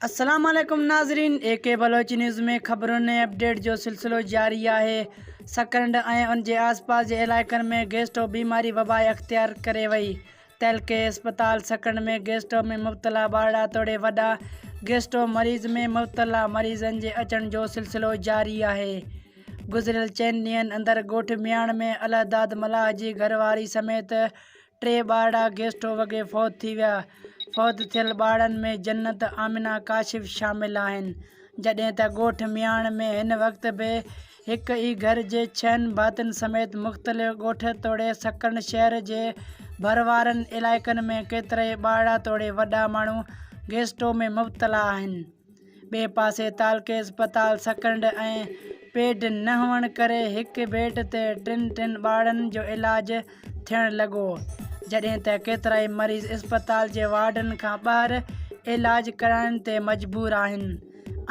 السلام عليڪم ناظرين اي ڪي بلوچ نيوز ۾ خبرن ۽ اپڊيٽ جو سلسلو جاري آهي سڪرنڊ ۽ ان جي آس پاس جي علائقن ۾ گيسٽو بيماري وبا اختيار ڪري وئي تعلقي اسپتال سکڻ ۾ گيسٽرو ۾ مبتلا ٻارڙا توڙي وڏا گيسٽرو مريض ۾ مبتلا مريضن جي اچڻ جو سلسلو جاري آهي گذريل چئن ڏينهن اندر ڳوٺ مياڻ ۾ الهداد ملاح جي گهرواري سميت ٽي ٻارڙا گيسٽرو وڳي فوت ٿي ويا فوت ٿيل ٻارڙن ۾ جنت آمنا ڪاشف شامل آهن جڏهن ته ڳوٺ مياڻ ۾ هن وقت به هڪ ئي گهر جي ڇهن ڀاتين سميت مختلف ڳوٺ توڙي سڪن شهر جي ڀر وارن علائقن ۾ ڪيترائي ٻارڙا توڙي وڏا ماڻهو گيسٽو ۾ مبتلا آهن ٻئي پاسي تعلقي اسپتال سڪنڊ ۽ پيڊ نه هئڻ ڪري هڪ بيڊ تي ٽن ٽن ٻارڙن جو علاج ٿيڻ لڳو جڏهن ته ڪيترائي مريض اسپتال جي وارڊن کان ٻاهر علاج ڪرائڻ تي مجبور آهن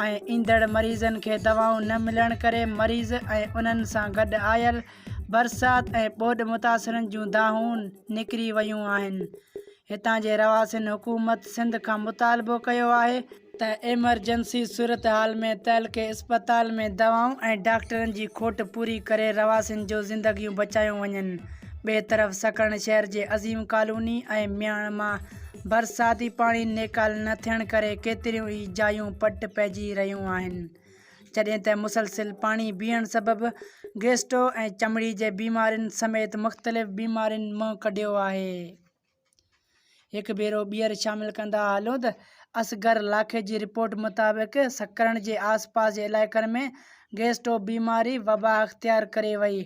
۽ ايندڙ مريضن کي دوائون نه ملڻ ڪري مريض ۽ انهن سان گڏ آيل برسات ۽ ٻوڏ متاثرن جون دانهون نڪري ويون آهن هتان جي رهواسين حڪومت سنڌ کان مطالبو ڪيو آهي ته ايمرجنسي صورتحال ۾ تعلقي اسپتال ۾ دوائون ۽ ڊاڪٽرن جي کوٽ پوري ڪري رهواسين جون زندگيون بچايون وڃن. ٻئي طرف سڪرنڊ شهر جي عظيم ڪالوني ۽ مياڻ مان برساتي پاڻي نيڪال نه ٿيڻ ڪري ڪيتريون ئي جايون پٽ پئجي رهيون آهن جڏهن ته مسلسل پاڻي بيهڻ سبب گيسٽو ۽ چمڙي جي بيمارين سميت مختلف بيمارين منهن ڪڍيو آهي. هڪ ڀيرو ٻيهر شامل ڪندا هلو ته اصغر لاکي جي رپورٽ مطابق سکرن جي آس پاس جي علائقن ۾ گئسٽو بيماري وبا اختيار ڪري وئي